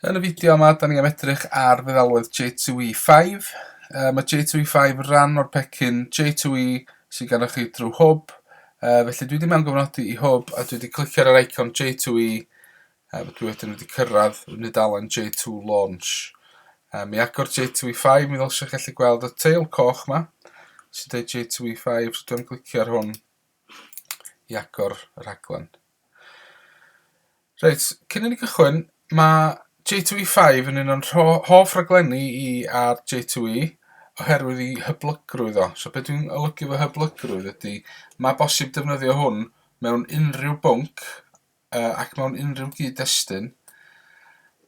Yn y fideo yma, da ni am edrych ar feddalwedd J2E5. Uh, mae J2E5 yn rhan o'r pecyn J2E sy'n gan chi drwy hwb. Uh, felly dwi wedi mewn gofnodi i hwb a dwi wedi clicio ar yr icon J2E a uh, dwi wedyn wedi cyrraedd yn y dalen J2 Launch. Uh, mi agor J2E5, mi ddylsio chi allu gweld y teil coch yma sy'n dweud J2E5, so dwi'n clicio ar hwn i agor y rhaglen. Reit, cyn i ni gychwyn, mae J2E5 yn un o'n hoff raglenni i ar J2E oherwydd ei hyblygrwydd o. So beth dwi'n olygu fo hyblygrwydd ydy, mae bosib defnyddio hwn mewn unrhyw bwnc uh, ac mewn unrhyw gyd-destun.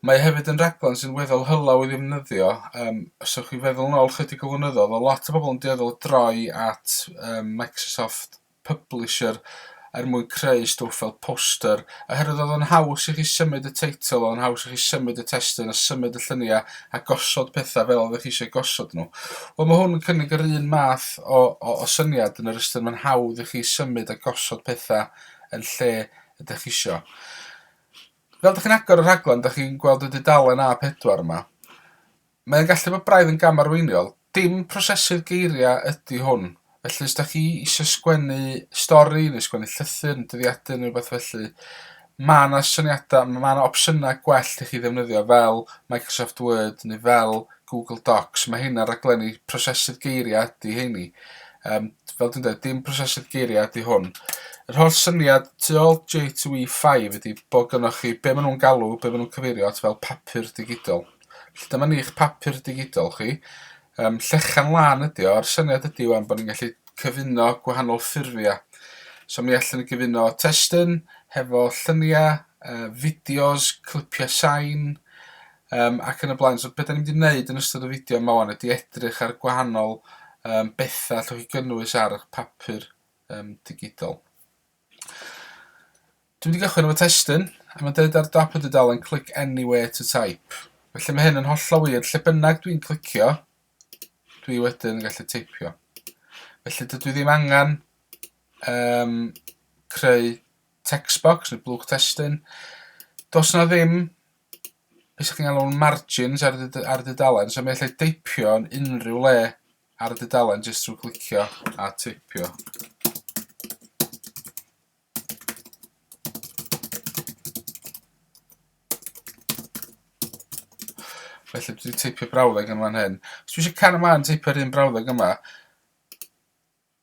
Mae hefyd yn raglen sy'n weddol hylaw i ddefnyddio. Um, os ywch chi feddwl yn ôl chydig o flynyddoedd, o lot o bobl yn dueddol droi at um, Microsoft publisher er mwyn creu stwff fel poster, oherwydd oedd o'n haws i chi symud y teitl, oedd o'n haws i chi symud y testun a symud y lluniau a gosod pethau fel oeddech chi eisiau gosod nhw. Wel mae hwn yn cynnig yr un math o, o, o syniad yn yr ystyr mae'n hawdd i chi symud a gosod pethau yn lle ydych chi eisiau. Fel ydych chi'n agor y rhaglen, ydych chi'n gweld y dudalen A4 yma. Mae o'n gallu bod braidd yn gam arweiniol. Dim prosesu'r geiriau ydi hwn. Felly os da chi eisiau sgwennu stori neu sgwennu llythyr yn dyddiadu neu rhywbeth felly mae yna syniadau, mae yna opsiynau gwell i chi ddefnyddio fel Microsoft Word neu fel Google Docs. Mae heina raglenni prosesu'r geiriau ydi heini. Um, fel dwi'n dweud, dim prosesu'r geiriau ydi hwn. Yr holl syniad tu ôl J2E5 ydy bod gynnwch chi be maen nhw'n galw, be maen nhw'n cyfeirio at fel papur digidol. Felly dyma ni eich papur digidol chi. Um, llechan lan ydi o, a'r syniad ydi o'n bod ni'n gallu cyfuno gwahanol ffurfiau. So mi allan ni gyfuno testyn hefo lluniau, uh, fideos, clipiau sain, um, ac yn y blaen. So beth ni'n mynd i wneud yn ystod y fideo yma wan ydi edrych ar gwahanol um, bethau allwch chi gynnwys ar eich papur um, digidol. Dwi wedi cychwyn efo testun, a mae'n deud ar dop y dudalen click anywhere to type. Felly mae hyn yn hollol wir, lle bynnag dwi'n clicio, dwi wedyn yn gallu teipio. Felly dydw i ddim angen um, creu text box neu blwch testun. Dos na ddim beth sy'n cael o'n margins ar, dyd ar dudalen, so mae allai deipio yn unrhyw le ar y dudalen jyst trwy clicio a teipio. Felly dwi 'di teipio brawddeg yn fan hyn. Os dwi isio cario mlaen teipio'r un brawddeg yma,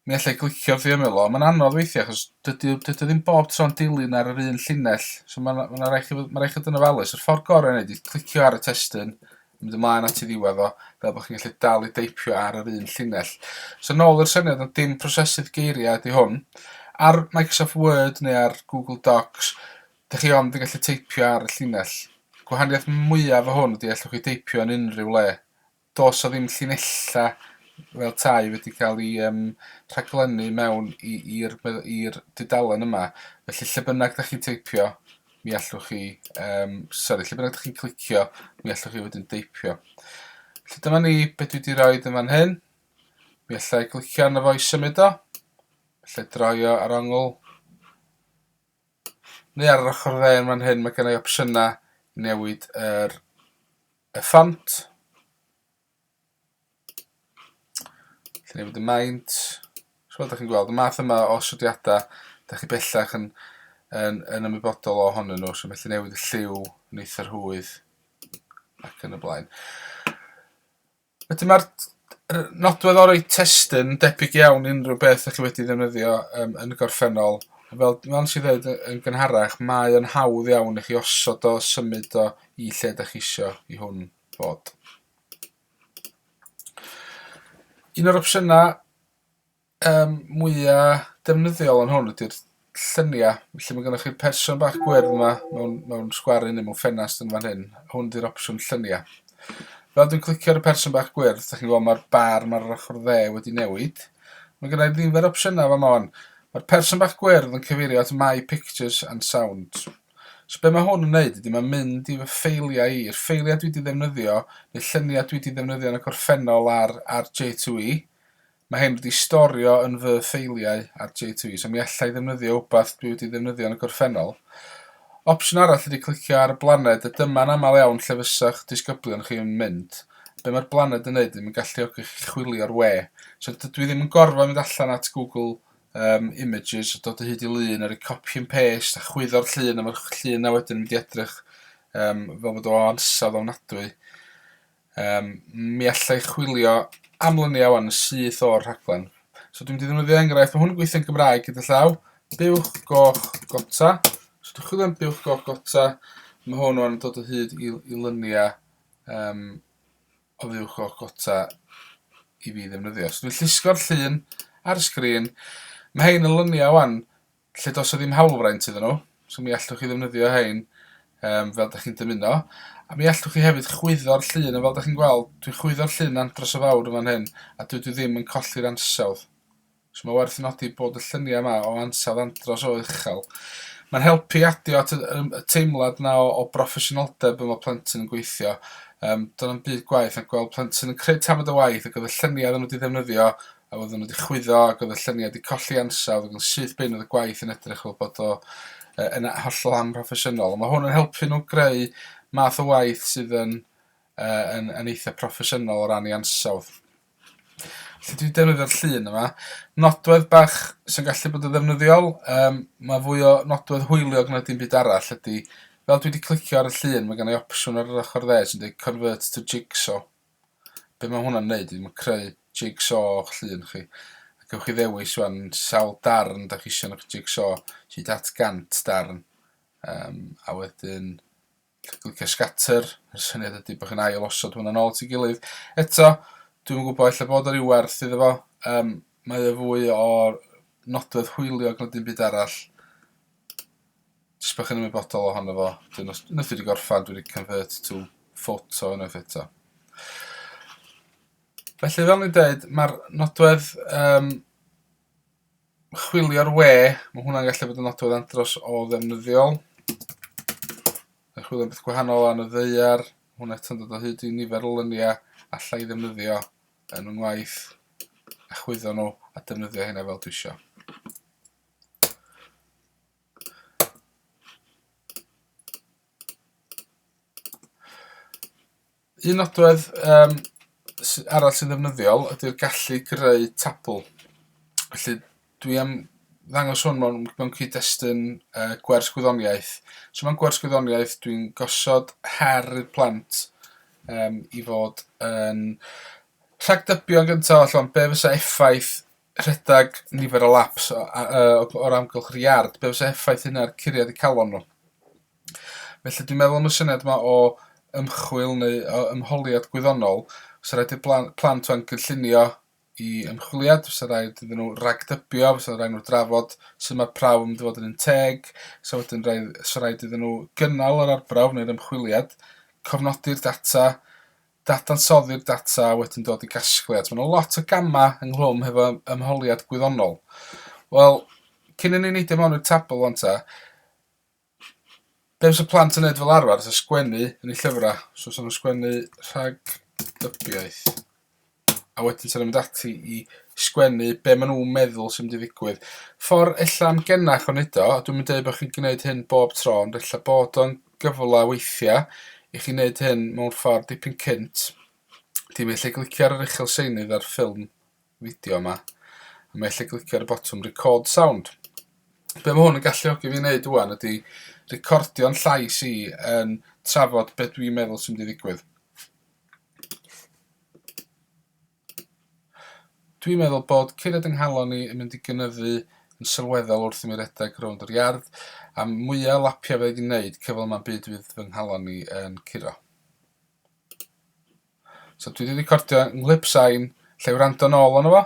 mi allai glicio wrth i ymyl o. Mae'n anodd weithiau achos dydy o dydy o ddim bob tro'n dilyn ar yr un llinell. So mae'n ma' 'na rai' chi fod ma' rai' chi fod yn ofalus. Yr ffordd gorau o neud clicio ar y testun mynd ymlaen at y ddiwedd o, fel bod chi'n gallu dal i deipio ar yr un llinell. So nôl i'r syniad o dim prosesydd geiriau ydy hwn. Ar Microsoft Word neu ar Google Docs, dych chi ond yn gallu teipio ar y llinell. Gwahaniaeth mwyaf o hwn ydy allwch chi deipio yn unrhyw le. Dos o ddim llinellau fel tai wedi cael ei um, rhaglennu mewn i'r dudalen yma. Felly lle bynnag dych chi'n teipio, mi allwch chi, um, sori, lle bynnag ydych chi'n clicio, mi allwch chi wedyn deipio. Felly dyma ni beth dwi wedi rhoi yn fan hyn. Mi allai glicio arno fo i symud o. Felly droio ar ongl. Neu ar yr ochr dde yn fan hyn, mae gen i opsiynau newid yr, y ffont. Dyna fod y maint. So fel dach chi'n gweld, y math yma o osodiadau, dach chi bellach yn, yn, yn ymwybodol ohonyn nhw, so felly newid y lliw yn eitha rhwydd ac yn y blaen. Wedyn mae'r nodwedd o'r testyn debyg iawn unrhyw beth ydych chi wedi ddefnyddio um, yn y gorffennol. Fel, fel sy'n dweud yn gynharach, mae yn hawdd iawn i chi osod o, symud o i lle ydych chi eisiau i hwn Plod. Un o'r opsiynau um, mwya defnyddiol yn hwn ydy'r lluniau. Felly mae gennych chi'r person bach gwyrdd yma mewn, mewn sgwarin neu mewn ffenast yn fan hyn. Hwn ydy'r opsiwn lluniau. Fel dwi'n clicio ar y person bach gwyrdd, da chi'n gweld mae'r bar mae'r ochr dde wedi newid. Mae gennych i ddiffer opsiynau fan hwn. Mae'r person bach gwyrdd yn cyfeirio at My Pictures and Sound. So be mae hwn yn wneud ydy mae'n mynd i fy ffeiliau i, i'r ffeiliau dwi wedi ddefnyddio, neu lluniau dwi wedi ddefnyddio yn y gorffennol ar, ar J2E. Mae hyn wedi storio yn fy ffeiliau ar J2E, so mi allai ddefnyddio wbath dwi wedi ddefnyddio yn y gorffennol. Opsiwn arall ydy clicio ar y blaned, a dyma'n aml iawn lle fysa'ch disgyblion chi yn mynd. Be mae'r blaned yn neud ydy mae'n galluogi chi chwilio'r we. So dydw i ddim yn gorfod mynd allan at Google yym images a dod o hyd i lun a roi copy and paste a chwyddo'r llun a ma'r ch- llun 'na wedyn yn mynd i edrych yym fel bod o ansawdd ofnadwy. Yym mi alla i chwilio am lynia ŵan yn syth o'r rhaglen. So dwi'n mynd i ddefnyddio enghraifft, ma' hwn yn gweithio yn Gymraeg gyda llaw, buwch goch gota. So dwi'n chwilio am buwch goch gota, ma' hwn ŵan yn dod o hyd i i lynia yym Oddiwrch o'ch gota i fi ddefnyddio. So dwi'n llusgo'r llun ar y sgrin. Mae hein yn lyniau wan, lle dos o ddim hawlfraint iddyn nhw. So mi allwch chi ddefnyddio hein um, fel da chi'n dymuno. A mi allwch chi hefyd chwyddo'r llun, a fel da chi'n gweld, dwi'n chwyddo'r llun andros o fawr yn fan hyn, a dwi ddim yn colli'r ansawdd. So mae werth nodi bod y lluniau yma o ansawdd andros o uchel. Mae'n helpu i adio at y, y, y teimlad yna o, o broffesiynoldeb yma plentyn yn gweithio. Um, Do'n am byd gwaith na gweld plentyn yn creu tamad o waith ac oedd y lluniau oedden nhw wedi ddefnyddio a oedden nhw wedi chwyddo ac oedd y lluniau wedi colli ansawdd ac yn syth bin oedd y gwaith yn edrych fel bod o uh, yn hollol amhroffesiynol. Mae hwn yn helpu nhw greu math o waith sydd yn, uh, yn, yn eitha proffesiynol o ran ei ansawdd. Felly dwi defnyddio'r llun yma. Nodwedd bach sy'n gallu bod yn ddefnyddiol, um, mae fwy o nodwedd hwyliog na dim byd arall ydy, fel dwi wedi clicio ar y llun, mae gen i opsiwn ar yr ochr dde sy'n dweud Convert to Jigsaw. Be mae hwnna'n neud? Mae'n creu jigsaw o'ch llun chi. Ac ewch chi ddewis wan sawl darn da chi eisiau yn eich jigsaw, hyd at gant darn. Um, a wedyn clicio scatter, yr syniad ydy bod chi'n ail osod hwnna'n ôl at ei gilydd. Eto, dwi'm yn gwybod, ella bod o ryw werth iddo fo, um, mae o fwy o nodwedd hwyliog na dim byd arall. Jyst bod chi'n ymwybodol ohono fo, dyn os, nes wedi gorffan, dwi wedi convert to photo unwaith eto. Felly fel ni'n dweud, mae'r nodwedd um, chwilio'r we, mae hwnna'n gallu bod yn nodwedd andros o ddefnyddiol. Mae chwilio'n beth gwahanol yn y ddeiar, hwnna eto'n dod o hyd i nifer o lyniau allai ddefnyddio yn fy ngwaith a chwyddo nhw a defnyddio hynna fel dwi eisiau. Un nodwedd um, arall sy'n ddefnyddiol ydy'r gallu greu tabl. Felly dwi am ddangos hwn mewn, mewn cyd-destun uh, gwers gwyddoniaeth. So mewn gwers gwyddoniaeth dwi'n gosod her i'r plant um, i fod yn rhagdybio yn gyntaf allan be fysa effaith rhedeg nifer o laps o'r amgylch yr iard, be fysa effaith hynna'r curiad y calon nhw. Felly dwi'n meddwl am y syniad yma o ymchwil neu o ymholiad gwyddonol, fysa raid i'r blan- plant 'wan gynllunio i ymchwiliad, fysa raid iddyn nhw ragdybio, fysa raid nhw drafod sut mae prawf yn mynd i fod yn un teg, so wedyn raid, so raid iddyn nhw gynnal yr arbrawf neu'r ymchwiliad, cofnodi'r data, dadansoddi'r data a wedyn dod i gasgliad. Mae yna lot o gamau ynghlwm hefo ymholiad gwyddonol. Wel, cyn i ni neidio mewn i'r tabl 'wan ta, Be fysa plant yn neud fel arfer fysa sgwennu yn eu llyfra'. So 'sa nw'n sgwennu rhag dybiaeth a wedyn 'sa nw'n mynd ati i sgwennu be' ma' nw'n meddwl sy'n mynd i ddigwydd. Ffor ella'n genach o neud o a dwi'm yn deud bo' chi'n gneud hyn bob tro ond ella bod o'n gyfla weithia' i chi neud hyn mewn ffor dipyn cynt. Dim ella glicio ar yr uchel seinydd ar ffilm fideo yma. A mae lle glicio ar y botwm record sound. Be mae hwn yn galluogi fi wneud wwan ydy recordio'n llais i yn trafod be dwi'n meddwl sy'n mynd i ddigwydd. Dwi'n meddwl bod curiad yng nghalon ni yn mynd i gynyddu yn sylweddol wrth i mi redeg rownd yr iard, a mwyaf o lapiau fe i wneud, cyfle yma'n byd fydd fy nghalon ni yn curo. So dwi 'di recordio 'nghlip sain, 'llai wrando nôl arno fo.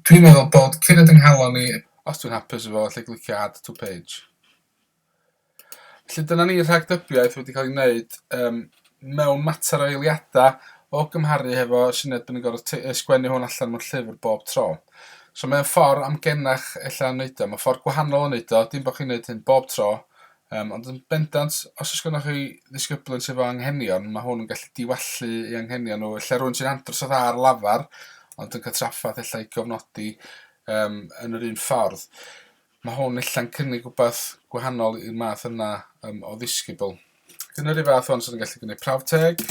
Dwi'n meddwl bod Cired yng nghalon i. Os dwi'n hapus efo, 'llai glicio add to page. Felly dyna ni rhagdybiaeth wedi cael ei wneud um, mewn mater o eiliadau o gymharu hefo syniad bod ni'n gorfod sgwennu hwn allan mewn llyfr bob tro. So mae'n ffordd amgenach ella yn wneud o, mae'n ffordd gwahanol yn wneud o, dim bod chi'n wneud hyn bob tro, Yym, ond yn bendant, os oes gennych chi ddisgyblion sydd efo anghenion, mae hwn yn gallu diwallu ei anghenion nhw. Ella rwy'n sy'n andros o dda ar lafar, ond yn cael traffaeth ella i gofnodi um, yn yr un ffordd. Mae hwn ella'n cynnig rhywbeth gwahanol i'r math yna um, o ddisgybl. Yn yr un fath hwn, sy'n gallu gwneud prawf teg,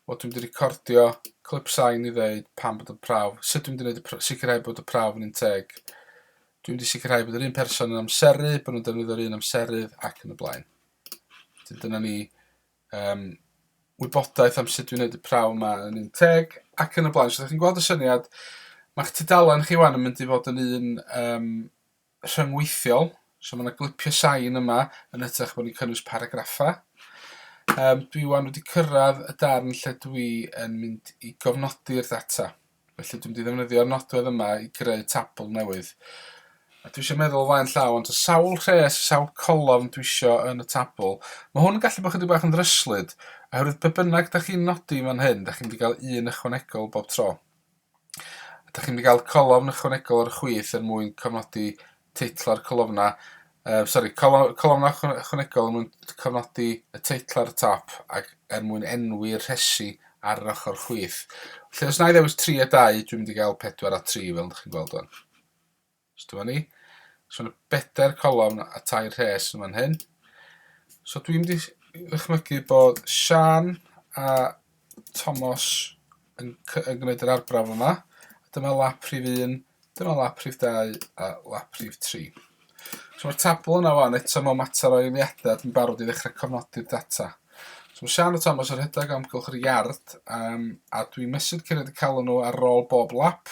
Wel dwi'm 'di recordio clip sain i ddeud pam bod y prawf... sut dwi'n mynd i wneud y pr- sicrhau bod y prawf yn un teg. Dwi'n mynd i sicrhau bod yr un person yn amseru, bod nhw'n defnyddio'r un amserydd ac yn y blaen. Wedyn dyna ni um, wybodaeth am sut dwi'n wneud y prawf yma yn un teg ac yn y blaen. So ydych chi'n gweld y syniad? Mae'ch tudalen chi wan yn mynd i fod yn un um, rhyngweithiol, so mae yna glipio sain yma yn ytrach bod ni'n cynnwys paragraffau. Um, dwi wan wedi cyrraedd y darn lle dwi yn mynd i gofnodi'r data. Felly dwi'n mynd i ddefnyddio'r nodwedd yma i greu tabl newydd. A dwi eisiau meddwl flaen llaw, ond o sawl rhes, sawl colofn dwi eisiau yn y tabl. Mae hwn yn gallu bod chydig bach yn ddryslyd, oherwydd pe bynnag da chi'n nodi fan hyn, da chi'n mynd i gael un ychwanegol bob tro. Ydych chi'n mynd i gael colofn ychwanegol ar y chwith er mwyn cofnodi teitl a'r colofnau? Yy sori, colo- colofnau ychwa- ychwanegol er mwyn cofnodi y teitl ar y top ac er mwyn enwi'r rhesi ar yr ochr chwith. Felly os na i ddewis 3 a 2, dwi'n mynd i gael 4 a 3 fel dych chi'n gweld wan. So dyma ni. So yna bedair colofn a tair rhes yn fan hyn. So dwi'n mynd i ddychmygu bod Sian a Tomos yn, yn gwneud yr arbrawf yma. Dyma lap rhif 1, dyma lap rhif 2 a lap rhif 3. So mae'r tabl yna fan eto mewn mater o eiliadau dwi'n barod i ddechrau cofnodi'r data. So mae Sian a Tomos yn rhedeg amgylch yr iard um, a dwi'n mesur cyrraedd y calon nhw ar ôl bob lap.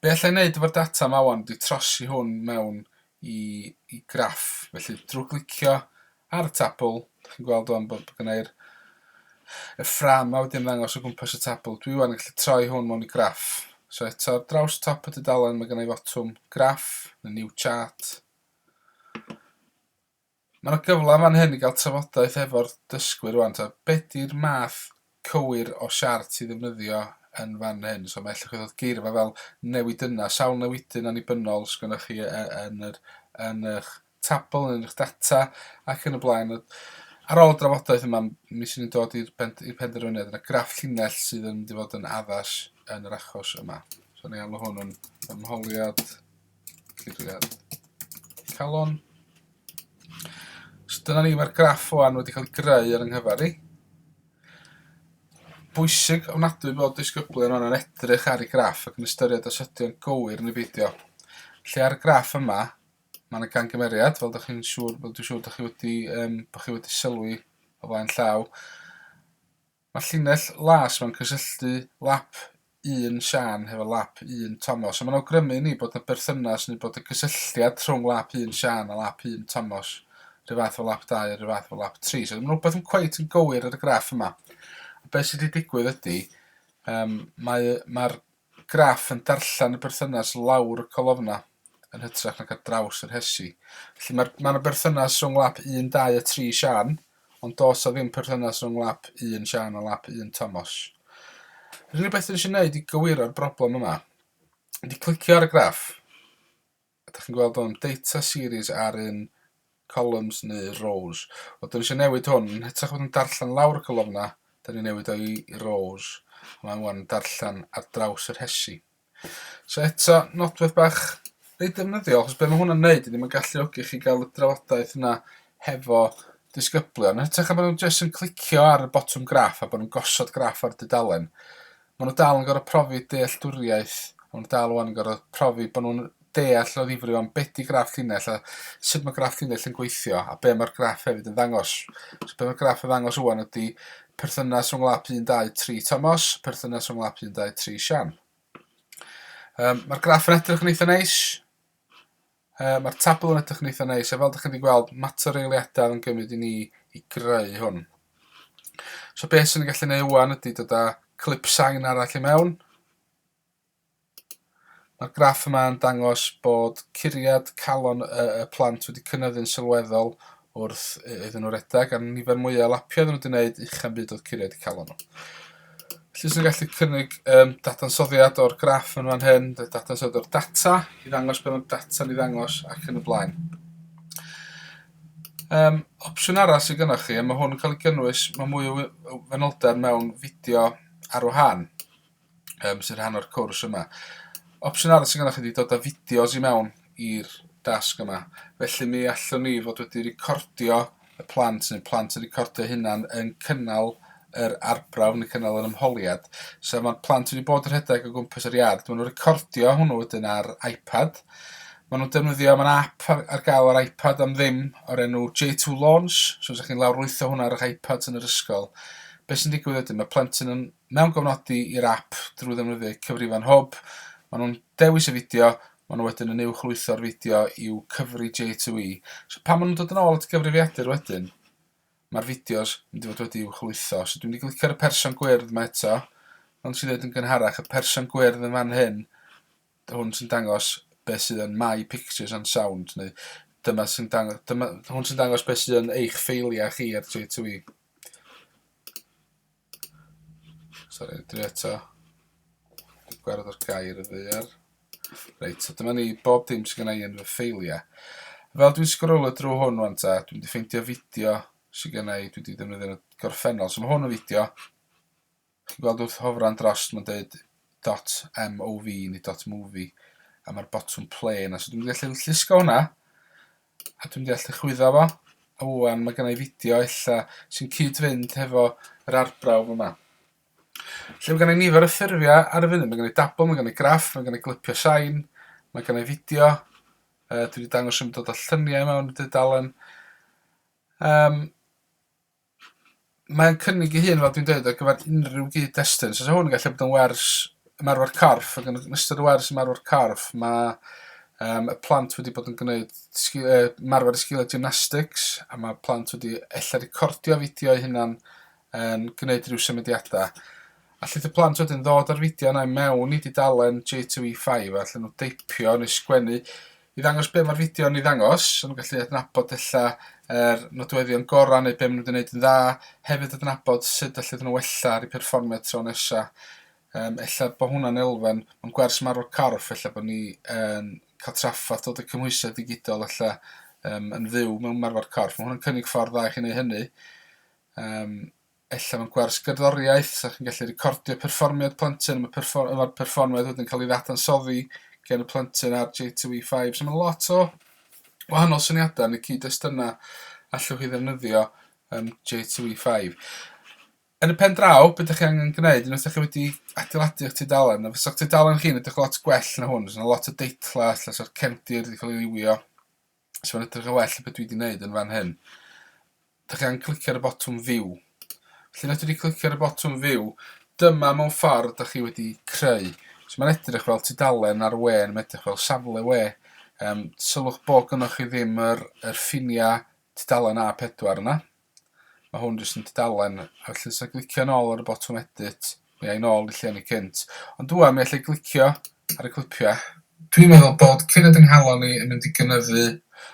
Be alla i wneud efo'r data yma wan? Dwi trosi hwn mewn i, i graff. Felly, drwy glicio ar y tabl, chi'n gweld o'n bod gynnau'r y ffram a wedyn ddangos o gwmpas y tabl. Dwi wan yn gallu troi hwn mewn i graff. So eto, ar draws top y dudalen, mae gynnau fotwm graff, y new chart. Mae 'na gyfle fan hyn i gael trafodaeth efo'r dysgwyr rwan, ta, be di'r math cywir o siart i ddefnyddio yn fan hyn? So mae ella chi ddod geirfa fel newidyna, sawl newidyn annibynnol sgynnoch chi e, yn yr yn eich tabl, yn eich data ac yn y blaen. Ar ôl y drafodaeth yma, mi sy'n ni'n dod i'r penderfyniad, yna graff llinell sydd yn mynd i fod yn addas yn yr achos yma. So ni alw hwn yn ymholiad Cliciwch ar calon. So dyna ni, mae'r graff o'n wedi cael ei greu ar yng nghyfer i. Bwysig ofnadwy bod disgyblion o'n edrych ar y graff ac yn ystyried os ydy'n gywir neu beidio. Lle ar y graff yma, mae yna gangymeriad, fel ydych chi'n siŵr, fel dwi'n siŵr ydych chi wedi, um, bod chi wedi sylwi o flaen llaw. Mae llinell las mewn cysylltu lap un Siân hefo lap un Tomos, a mae'n awgrymu i ni bod yna berthynas neu bod y cysylltiad rhwng lap un Siân a lap un Tomos rhyw fath efo lap dau a rhyw fath efo lap tri. So ddim rhywbeth yn cweit yn gywir ar y graff yma. A beth sydd wedi digwydd ydy, um, mae'r mae Graff yn darllen y berthynas lawr y colofna yn hytrach nac ar draws y rhesi. Felly mae'r... mae 'na berthynas rhwng lap 1, 2 a 3 Siân, ond does 'na ddim perthynas rhwng lap 1 Siân a lap 1 Tomos. Yr unig beth dwi eisiau neud i gywiro'r broblem yma ydy clicio ar y graff. A dach chi'n gweld hwn? Data series ar un columns neu rows. Wel, dyn ni eisiau newid hwn. Yn hytrach bod yn darllen lawr y colofn yna, dyn ni'n newid o'i rows. Mae'n wan yn darllen ar draws yr hesi. So eto, nodwedd bach reit defnyddiol, achos beth mae hwnna'n neud ydy mae'n galluogi chi gael y drafodaeth yna hefo disgyblion. Yn hytrach bod nhw'n jyst yn clicio ar y botwm graff a bod nhw'n gosod graff ar dudalen, Maen nhw dal yn gorfod profi dealltwriaeth, a maen nhw dal 'wan yn gorfod profi bod nhw'n deall o ddifri 'wan be' 'di graff llinell a sut mae graff llinell yn gweithio a be' mae'r graff hefyd yn ddangos. So be' mae'r graff yn ddangos 'wan ydy perthynas rhwng lap 1, 2, 3 Tomos, perthynas rhwng lap 1, 2, 3 Sian. Um, Mae'r graff yn edrych yn eitha neis. Yy, mae'r tabl yn edrych yn eitha neis, a fel dych chi wedi gweld, mater eiliadau yn gymryd i ni i greu hwn. So beth sy'n ni'n gallu neud wan ydy dod â clip sain arall i mewn. Mae'r graff yma yn dangos bod curiad calon y, y plant wedi cynyddu'n sylweddol Wrth iddyn nhw redeg, a'r nifer mwyaf o lapiau oedden nhw wedi gwneud, uchem byd oedd curiau wedi cael nhw. Felly, sy'n gallu cynnig um, dadansoddiad o'r graff yn fan hyn, dadansoddiad o'r data, i ddangos beth mae'r data ni ddangos ac yn y blaen. Um, opsiwn arall sydd gennych chi, a mae hwn yn cael ei gynnwys, mae mwy o fenoldeb mewn fideo ar wahân. um, sy'n rhan o'r cwrs yma. Opsiwn arall sy'n gennych chi wedi dod â fideos i mewn i'r dasg yma. Felly mi allwn ni fod wedi recordio y plant, neu plant yn recordio hynna'n yn cynnal yr arbrawf neu cynnal yr ymholiad. So mae'r plant wedi bod yn rhedeg o gwmpas yr iard. Maen nhw'n recordio hwnnw wedyn ar iPad. Maen nhw'n defnyddio, mae'n app ar, ar gael ar iPad am ddim o'r enw J2 Launch. So ydych chi'n lawrlwytho hwnna ar eich iPads yn yr ysgol. Be sy'n digwydd wedyn? Mae plentyn yn Mewn cofnodi i'r ap drwy ddefnyddio cyfrifon hwb, maen nhw'n dewis y fideo, maen nhw wedyn yn uwchlwytho'r fideo i'w cyfri J2E. So pan maen nhw'n dod yn ôl at gyfrifiadur wedyn, mae'r fideos yn mynd i fod wedi uwchlwytho. So dwi'n mynd i glicio ar y person gwyrdd yma eto, ond sy'n dweud yn gynharach, y person gwyrdd yn fan hyn, hwn sy'n dangos beth sydd yn My Pictures and Sound, neu dyma sy'n dangos, dyma, hwn sy'n dangos beth sydd yn eich ffeiliau chi ar J2E. Sorry, dwi eto. Dwi'n gwared o'r gair y ddaear. Reit, so dyma ni bob dim sydd gennau yn fy ffeiliau. Fel dwi'n sgrolo drwy hwn rwan ta, dwi'n di ffeindio fideo sydd gennau, dwi wedi defnyddio yn y gorffennol. So mae hwn yn fideo. Chi'n gweld wrth hofran dros, mae'n dweud .mov neu .movie. A mae'r botwm play yna. So dwi'n gallu llusgo hwnna. A dwi'n deall dy chwyddo fo. A ŵan ma' gennai fideo ella sy'n cyd-fynd hefo yr arbrawf yma. Lle ma' gennai nifer o ffurfia ar y funud ma' gennai dabl ma' gennai graff ma' gennai glipio sain ma' gennai fideo yy dwi 'di dangos yn dod â llyniau mewn i dudalen yym Mae'n cynnig ei hun, fel dwi'n dweud, ar gyfer unrhyw gyd-destun. So 'sa hwn yn gallu bod yn wers ymarfer corff ac yn ystod y wers ymarfer corff ma' yym y plant wedi bod yn gwneud sgi- yy ymarfer y sgilie gymnastics a ma' plant wedi ella recordio fideo eu hunan yn gneud ryw symudiada. Allith y plant wedyn ddod â'r fideo 'na i mewn i dudalen J two ee five a allan n'w deipio neu sgwennu i ddangos be' ma'r fideo yn 'i ddangos so ma' nw'n gallu adnabod ella yr nodweddion gora' neu be' ma' nw 'di neud yn dda hefyd adnabod sut allet nw wella ar 'u perfformiad tro nesa. Yym ella bo' hwnna'n elfen mewn gwers marwol corff ella bo' ni yn ca'l traffarth dod y cymhwysiad digidol ella yym yn fyw mewn marfer corff ma' hwn yn cynnig ffordd dda i chi neu' hynny. Yym. ella mewn gwers gerddoriaeth, 'sa chi'n gallu recordio perfformiad plentyn a ma' perffor- a ma'r perfformiad wedyn ca'l 'i ddadansoddi gen y plentyn ar J two Ee five. So ma' lot o wahanol syniada yn y cyd-destuna allwch chi ddefnyddio yym J two Ee five. Yn y pen draw be' 'dych chi angen gneud unwaith 'dych chi wedi adeiladu 'ych tudalen a fysa'ch tudalen chi'n edrych lot gwell na hwn fysa 'na lot o deitla ella sa'r cefndir 'di ca'l 'i liwio os mae'n edrych yn well beth dwi wedi wneud yn fan hyn, da chi angen clicio ar y botwm View. Felly na dwi wedi clicio ar y botwm View, dyma mewn ffordd da chi wedi creu. So mae'n edrych fel tudalen ar we, mae'n edrych fel safle we. Um, sylwch bod gynnwch chi ddim yr, yr ffiniau tudalen A4 yna. Mae hwn jyst yn tudalen, a felly os glicio yn ôl ar y botwm edit, mi ai nôl i lle ni cynt. Ond dwan mi allai glicio ar y clipiau. Dwi'n meddwl bod cyn y dynghalon ni yn mynd i gynyddu.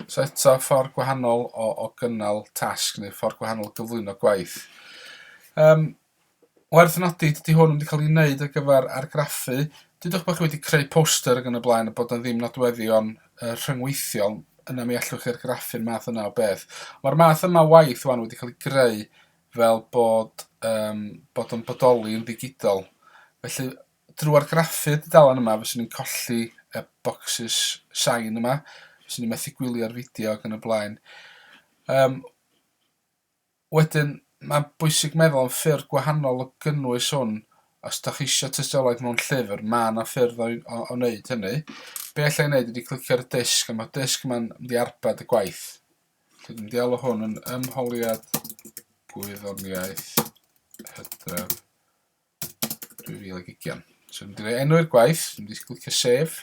So eto, ffordd gwahanol o, o gynnal tasg neu ffordd gwahanol gyflwyno gwaith. Um, Werth nodi, dydi hwn ddim wedi cael ei wneud ar gyfer argraffu. Dudwch bod chi wedi creu poster ac yn y blaen a bod yna ddim nodweddion uh, rhyngweithiol, yna mi allwch chi argraffu'r math yna o beth. Mae'r math yma o waith wan wedi cael ei greu fel bod, um, bod yn bodoli yn ddigidol. Felly, drwy argraffu'r dudalen yma, fyswn ni'n colli y bocsys sain yma, fyswn ni'n methu gwylio'r fideo ac yn y blaen. Um, Wedyn, mae'n bwysig meddwl am ffyrdd gwahanol o gynnwys hwn. Os dach chi eisiau tystiolaeth mewn llyfr, mae yna ffyrdd o o wneud hynny. Be alla i wneud ydy clicio ar y disg, a mae'r disg yma'n mynd i arbed y gwaith. Felly dwi'n deall o hwn yn ymholiad gwyddoniaeth hydref 2020. So mynd i roi enw'r gwaith, dwi'n mynd i clicio sef.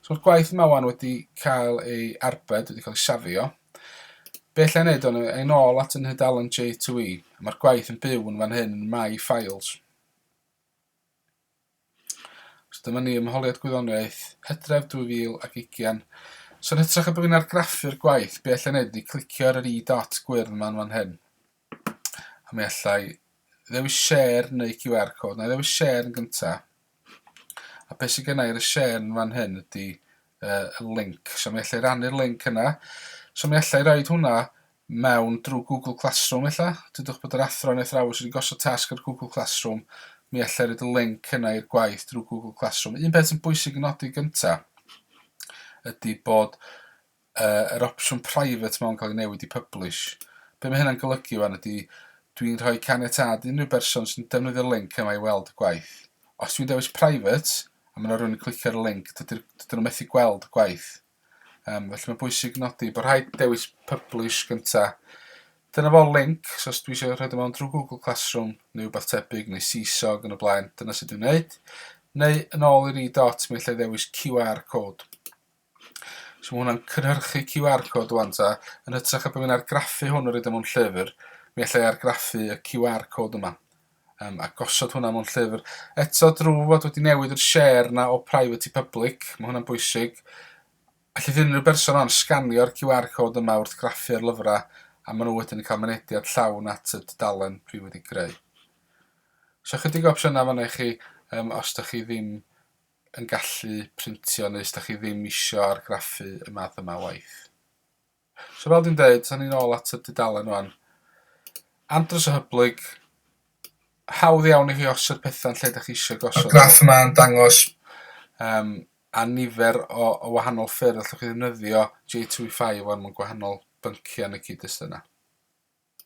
So mae'r gwaith yma wan wedi cael ei arbed, wedi cael ei safio. Be lle wneud o'n ein ôl at yn hydalen J2E. Mae'r gwaith yn byw yn fan hyn yn My Files. So dyma ni ymholiad gwyddoniaeth, hydref 2020. So yn hytrach y bod fi'n argraffu'r gwaith, be lle wneud ydy clicio ar yr i dot gwyrdd yma'n fan hyn. A mi allai ddewis share neu QR code. Na i ddewis share yn gynta. A beth sydd gennau ar y share yn fan hyn ydy uh, y link. So mi allai rannu'r link yna. So mi allai roed hwnna mewn drwy Google Classroom ella. Dydwch bod yr athro neu athrawes wedi gosod tasg ar Google Classroom. Mi allai roed y link yna i'r gwaith drwy Google Classroom. Un peth sy'n bwysig yn nodi gynta ydy bod yy yr opsiwn private ma'n cael ei newid i publish. Be mae hynna'n golygu wan ydy dwi'n rhoi caniatâd i unrhyw berson sy'n defnyddio'r link yma i weld y gwaith. Os dwi'n dewis private a mae yna rhywun yn clicio ar y link dydyn nhw methu gweld y gwaith. Um, felly mae'n bwysig nodi bod rhaid dewis publish gynta. Dyna fo'r link, so os dwi eisiau rhoi mewn drwy Google Classroom neu rhywbeth tebyg neu Seesaw yn y blaen, dyna sut dwi'n gwneud. Neu yn ôl i'r e-dot mi allai ddewis QR code. So mae hwnna'n cynhyrchu QR code wan ta. Yn hytrach na bod fi'n argraffu hwn a roid o mewn llyfr, mi allai argraffu y QR code yma um, a gosod hwnna mewn llyfr. Eto drwy fod wedi newid yr share na o private i public, mae hwnna'n bwysig. Allu ddyn unrhyw berson o'n sganio'r QR code yma wrth graffu ar lyfrau a maen nhw wedyn yn cael mynediad llawn at y dudalen prif wedi greu. So chydig o opsiynau fan i chi um, os da chi ddim yn gallu printio neu os da chi ddim isio argraffu y math yma waith. So fel dwi'n dweud, sa'n ni'n ôl at y dudalen o'n. Andros o hyblyg, hawdd iawn i chi osod pethau'n lle da chi eisiau gosod. Y graff yma'n dangos um, a nifer o, o wahanol ffyrdd allwch chi ddefnyddio J2E5 o'n mewn gwahanol bynciau yn y cyd-destun yna.